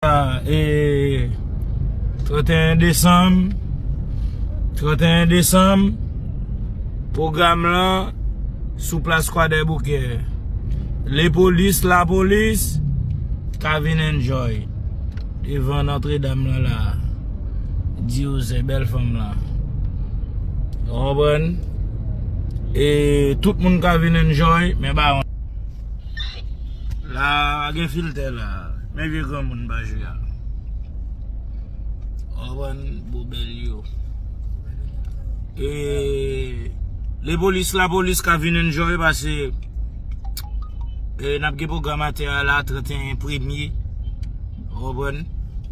E 31 desanm 31 desanm Pwogram lan sou plas kwadèboukè Lepolis lapolis ka vin enjoy Devan nòtredam lan la Diw se bèl fanm lan Ou konprann E tout moun ka vin enjoy Men baron La pa gen filtè la Men vye granmoun bajwe a. Anvan bobel yo. E le polis la polis ka vin enjoy pase e nap gen program atè a la 31 premye. Anvan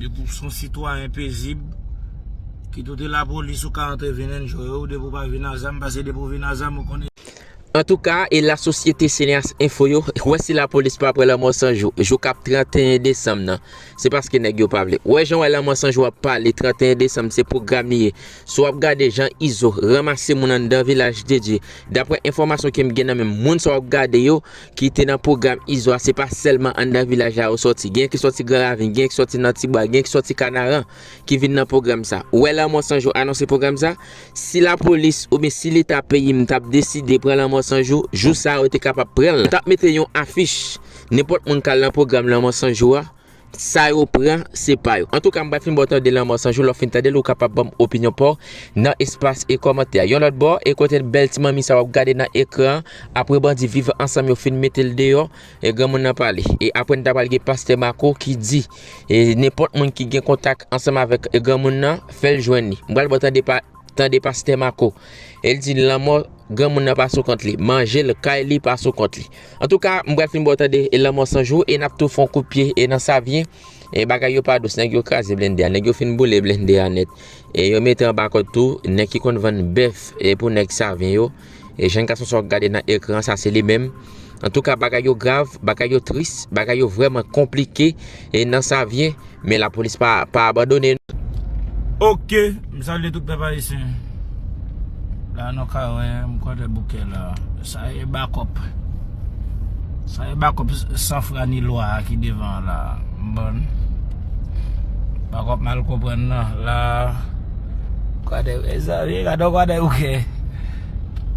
de pou son sitwa en pezib. Ki toute la polis ou ka antre vin enjoy ou de pou pa vin azam pase de pou vin azam ou konnen. Antouka, elas sosyete Cineas Info yo, wè si lapolis pa pran lanmò Sanjou, jou kap 31 desanm nan. Se paske nèg yo pa vle. Wè jan wè lanmò Sanjou ap pale 31 desanm se pwogram li ye. Si wap gade jan Izo ranmase moun anndan Vilaj de Dye, daprè enfòmasyon kem gen nan menm, moun sa wap gade yo ki te nan pwogram Izo a se pa sèlman anndan vilaj la yo sòti. Gen ki sòti Gran Ravin, gen ki sòti nan Tibwa, gen ki sòti Kanaran. ki vin nan pwogram sa. Ou wè lanmò san jou anonse pwogram sa? Si lapolis oubyen si leta peyi m tap deside pran lanmò san jou, jou sa yo te kapab pran l, tap mete yon afich, nenpòt moun kal nan pwogram lanmò san jou a, sa yo pran se pa yo. Antouka m pa fin baw tande lanmò san jou, lè w fin tande l ou kapab banm opinyon paw nan espas e kòmantè a. Yon lòt bò, e kote bèl ti manmi sa wap gade nan ekran an, apre bandi viv ansanm yo fin mete l deyò, E granmoun nan pale. E apre n ta pale gen pastè Marco ki di. E nenpòt moun ki gen kontak ansanm avèk e granmoun nan fè l jwenn li. M pral pran tande pa tande pastè Marco. E l di lanmò granmoun nan pa sou kont li. Manje l, kay li pa sou kont li. Antouka m pral fin ba w tande e lanmò san jou e n ap tou fè yon kout pye e nan Savyen. E bagay yo pa dous. Nèg yo kraze blennde a. Nèg yo fin boule blennde a nèt. E yo mete anba kòd tou nèg ki konn vann bèf e pou nèg Savyen yo. E jenn gason sa wap gade nan ekran an sa se li menm Antouka bagay yo grav, bagay yo tris, bagay yo vrèman konplike e nan Savyen Men lapolis pa abandone non. Ok, m salye tout pèp ayisyen La nou ka wè m kwadèboukè la Sa e bakòp Sa e bakòp san fra ni lwa a ki devan an la a M ban n. Bak wap mal konprann nan la Kwadè mezanmi gade yon kwadè bouke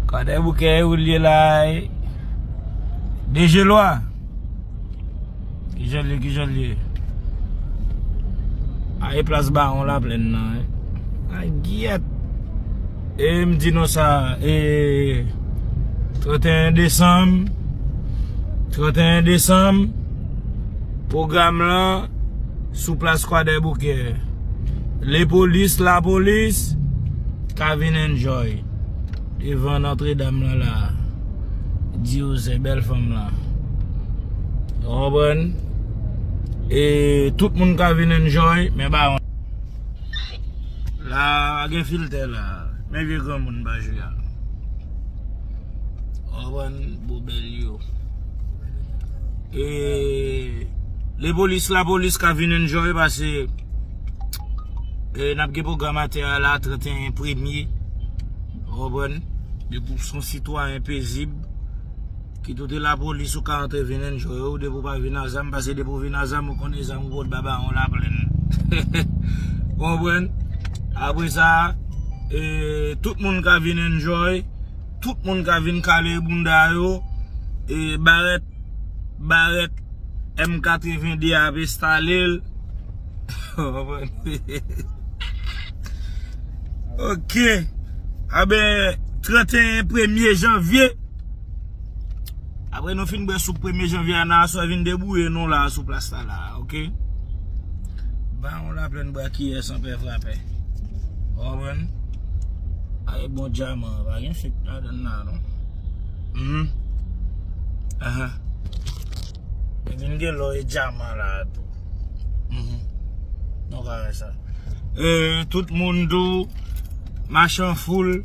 Kwadè bouke ou liye la e De je lwa Kijan liye kijan liye A e plas bawon la plen nan e A gyèt E m di nou sa e 31 desanm 31 desanm pwogram lan sou plas kwadèboukè lepolis lapolis ka vin enjoy devan nòtredam lan la diyoze bèl fanm lan ou konprann e tout moun ka vin enjoy men baron La a gen filtè la a. Men vye granmoun Bajou a. Ou konprann? Bobèl yo. E lepolis lapolis ka vin enjoy pase e n ap gen pwogram atè a la 31 premye. Ou konprann? Depi w son sitwayen pezib. Ki toute la police ou ka antre vin enjoy ou depi ou pa vin a zam pase depi ou vin a zam ou konnen zam ou pot ba baron la plènn ou konprann apre sa tout moun ka vin enjoy tout moun ka vin kale bounda yo e barèt barèt M82 a ap estale l ou konprann ok a ben 31 premye janvier. Apre nou fin bwe soup premye janvye a nan aswè vin debouye nou la sou plas la la ok. Ban yon la plen bwa kiyè san pè frapè. Ou konprann? Ae bon djaman an pa gen fek ladan nan non. Hum. Ahan. Yo di m gen lò e dyaman la a tou. Nou ka wè sa. E tout moun tou, machan foul.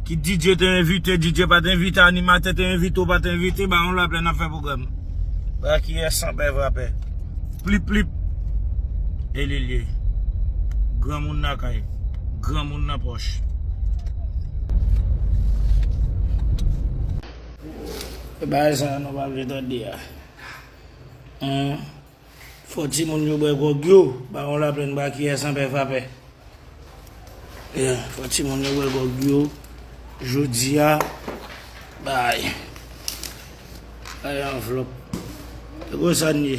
Kit DJ te envite, DJ pa te envite, animatè te envite ou pa te envite, ba nou lapè n ap fè pwogram. Ba kiyès san pè vrapè. Plip plip. E li l ye. Granmoun nan kay. Granmoun nan pòch. E bagay sa nou pa vle tande a. Humm. Fò timoun yo bwè gwòg yo. Baron Laplaine ba kiyè san pè fa pè. Yeah, fò timoun yo bwè gwòg yo. Jodi a, bay. Bay anvlòp. E kon sa n ye.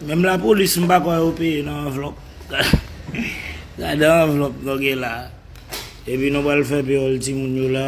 Menm la polis m pa kwè yo peye nan anvlòp. Gade anvlòp nou gen la. Epi nou pral fè peyòl timoun yo la.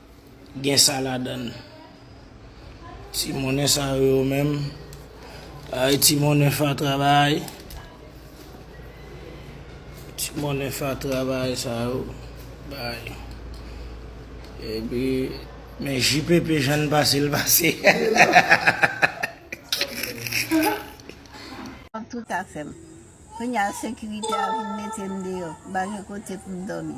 Gen sa ladann. Ti monnen sa yo yo menm. Ay ti monnen fatra bay. Ti monnen fatra bay sa yo. Bay. E bi men JPP jan l pase l pase. An tou ka fè m. Kounye a sekirite a vin mete m deyò. M pa gen kote pou m dòmi.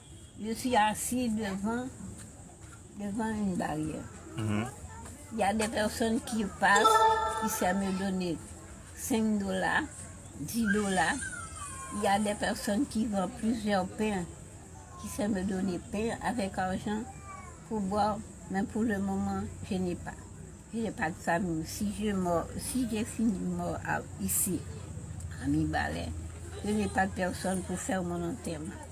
Yo si asi devan, devan yn baryè. Ya de pèsòn ki pas, ki sèm yo done 5 dola, 10 dola. Ya de pèsòn ki van plizyè pen, ki sèm yo done pen avèk arjan pou bwa, men pou le moman je ne pa, je ne pa de famiy. Si je mò, si je fini mò isi a Mibalè, je ne pa de pèsòn pou fèr mon antèman.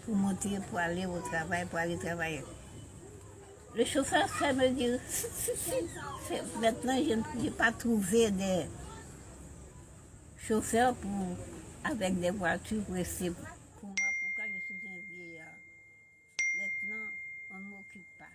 Pou monte, pou ale o travay, pou ale travay. Le chofè fè me di, si, si, si, se mètnan je n'ai pa twouve de chofè pou avèk de vwati pou ese pou mwen, poukwa je sou zen vieya. Mètnan, on ne m'occupe pas.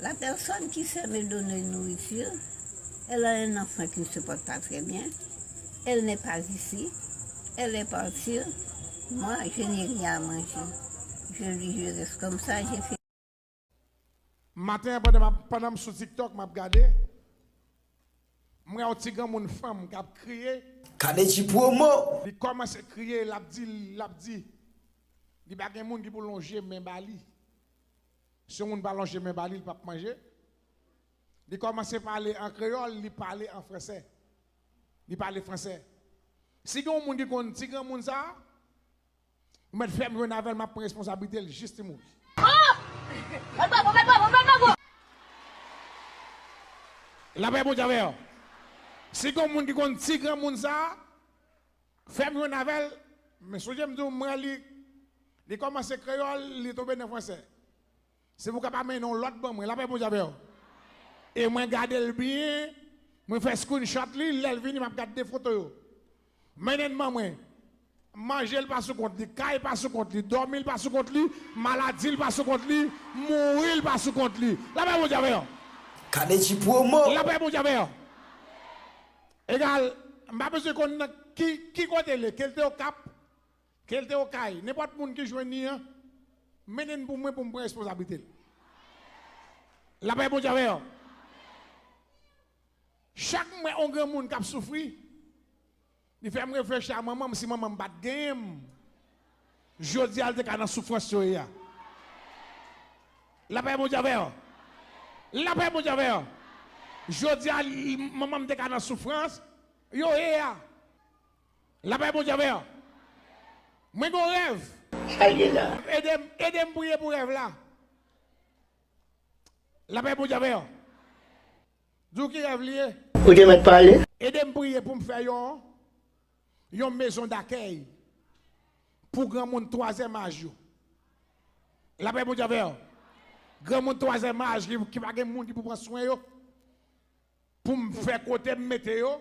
La personne qui sait me donner nourriture, elle a un enfant qui ne se porte pas très bien, elle n'est pas ici, elle est partir, moi je n'ai rien à manger, je lui je reste comme ça, j'ai fait. Maten an pandan map pandan m sou tiktok map gade m wè yon ti granmoun fanm kap kriye. Kadejy promo! Li kòmanse kriye lap di lap di li pa gen moun ki pou lonje men ba li. Si yon moun pa lonje men ba li, li pap manje. Li kòmanse pale an kreyòl, li pale an fransè. Li pale fransè. Si gen yon moun ki konn ti granmoun sa a, ou mèt fè m jwenn avè l, m ap pran responsablite l jis li mouri. Lapè Bondye avè w. Si gen yon moun ki konn ti granmoun sa a, Fèm jwenn avèl men sonjem diw mwen li li kòmanse kreyòl li tonbe nan fransè si pou kapab mwen yon lòt ban mwen lapè Bondye avèw e mwen gadel byen mwen fè screenshot li lèl vini map gad 2 foto yo mennenn ban mwen manjel pa sou kont li kay pa sou kont li dòmil pa sou kont li maladil pa sou kont li mouril pa sou kont li lapè Bondye avèw. Kadejy promo. Lapè Bondye avèw. Egal, m pa bezwen konn nan ki ki kote l ye, ke l te Okap, ke l te Okay, nenpòt moun ki jwenn li an, mennen l pou mwen pou m pran responsablite l. Lapè Bondye avè w. Chak m wè yon granmoun k ap soufri, li fè m reflechi a manman m, si manman m pa t genyen m. Jodi a li te ka nan soufrans yo ye a. Lapè Bondye avè yo. Lapè Bondye avè yo. Jodi a manman m te ka nan soufrans yo ye a. Lapè Bondye avè yo. Mwen gen yon rèv. Shayela. Ede m, ede m priye pou rèv la. Lapè Bondye avè yo. Di w ki rèv li ye? Ou te mèt pale. Ede m priye pou m fè yon yon mezon dakèy pou granmoun twazèm aj yo. Lapè Bondye avè w. Granmoun twazèm aj ki pa gen moun ki pou pran swen yo, pou m fè kote m mete yo.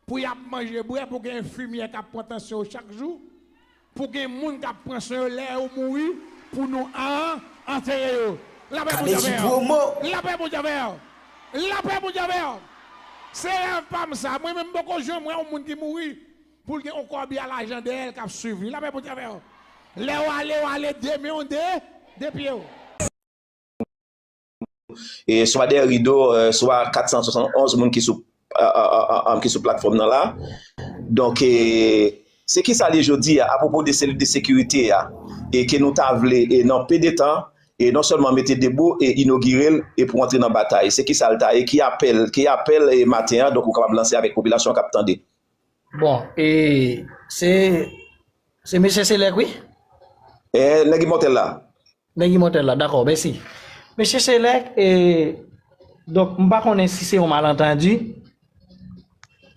Pou y ap manje, bwè, pou gen enfimyè k ap pran tansyon yo chak jou, pou gen moun k ap pran swen yo lè yo mouri, pou nou an antere yo. Lapè Bondye avè w! Lapè Bondye avè w! Lapè Bondye avè w! Se rèv pa m sa. Mwen menm m poko janm wè yon moun ki mouri pou l gen yon kòbi a lajan dèyè l k ap suiv li. Lapè Bondye avè w! Lè w ale, w ale de men w de pye w. swa dèyè rido swa 471 moun ki sou platfòm nan la donk se ki sa li jodi a apopo de seli de sekirite a e ke nou ta vle e nan pe de tan e non sèlman mete debou e inogirel e pou antre nan batay se ki sa lta e ki apèl ki apèl e maten an donk ou kapab lanse avèk popilasyon kap tande bon e se se mesye se lèk wi e nèg imòtèl la. Nèg imòtèl la, dakò, mèsi. Mesye Selèk, e, donk, m pa konnen si se yon malantandi,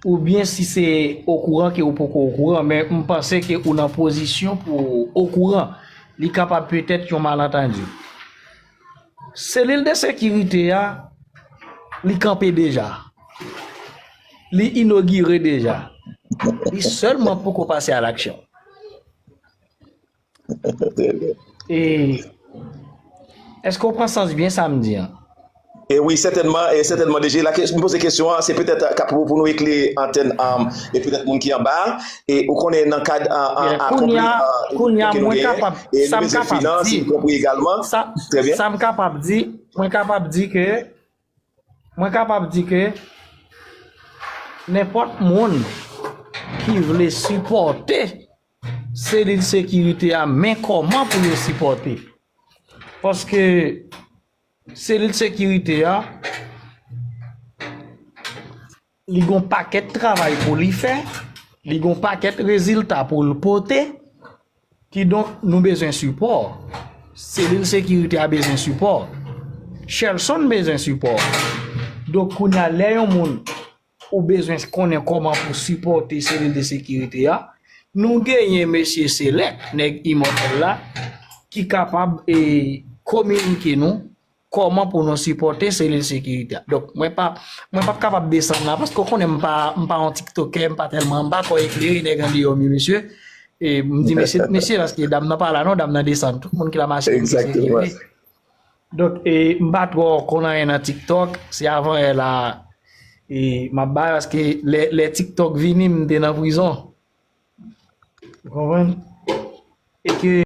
oubyen si se okouran ke ou poko okouran, men m panse ke ou nan pozisyon pou ou okouran, li kapab petèt yon malantandi. Selil de sekirite a, li kanpe deja. Li inogire deja. Li sèlman poko pase a laksyon. E, èske ou pran sans byen sa m di an? E wi, sètènman, e sètènman DG. La ke, m poze kesyon an, se petèt ka pou pou nou ekle antèn an e petèt moun ki anba a. E ou konnen nan kad a a a konpli a a ke nou genyen e nou bezwen finans y konpli egalman. Trè byen. Sa m kapab di, mwen kapab di ke, mwen kapab di ke nenpòt moun ki vle sipòte. selil sekirite a men kòman pou yo sipòte. Paske selil sekirite a li gon pakèt travay pou li fè, li gon pakèt rezilta pou l pote, ki donk nou bezwen sipò. Selil sekirite a bezwen sipò. Shelson bezwen sipò. Donk kounya lè yon moun ou bezwen konnen kòman pou sipòte selil de sekirite a, nou genyen mesye Selèk, nèg imòtèl la, ki kapab e kominike nou kòman pou nou sipòte selil sekirite a. Donk, mwen pa, mwen pap kapab desann la, paske ou konnen m pa, m pa yon tiktokè, m pa tèlman, m pa twò eklere nèg andeyò mi mesye, e m di mesye, mesye, paske dam nan pa la non, dam nan desann, tout moun ki la machine, Egzakteman. Donk e m pa twò konn anyen nan tiktok, se avan yè la e m ap bay paske lè tiktok vini m te nan prizon. Ou konprann? E ke.